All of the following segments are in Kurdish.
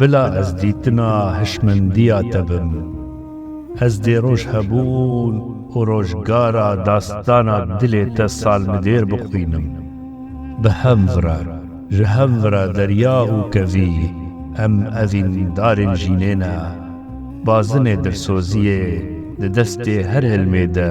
Bila ez dîtina hişmendiya te bim. Ez dê roj hebûn û rojgara dastana dilê te salmidêr bixwînim. Bi hev re, ji hev re derya û kevî, em evîndarên jînê ne. Bazinê dilsoziyê di destê her hilmê de.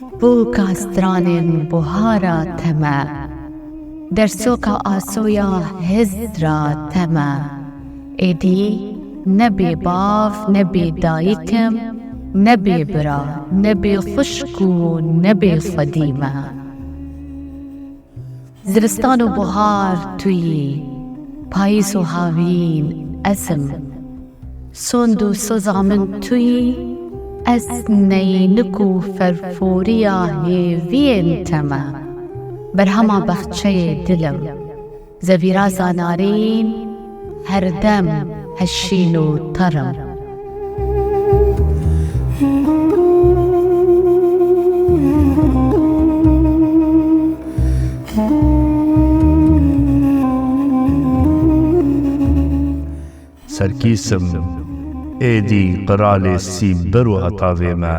Bo ka stranên buhara te me. Dersoka asoya hizd ra te me. Êdî ne bê bav ne bê dayik im, ne bê bira, ne bê xwişk û ne bê xwedî me. Zivistan û buhar tu yî, payîz û havîn ez im. Sond û soza min tu yî, ez neynik û ferforiya hêviyên te me. Berhema bexçeyê dil im, zevîraza narîn, Her dem ez şîn û tar im. Serkîs im, êdî qiralê sî bir û heta vê me.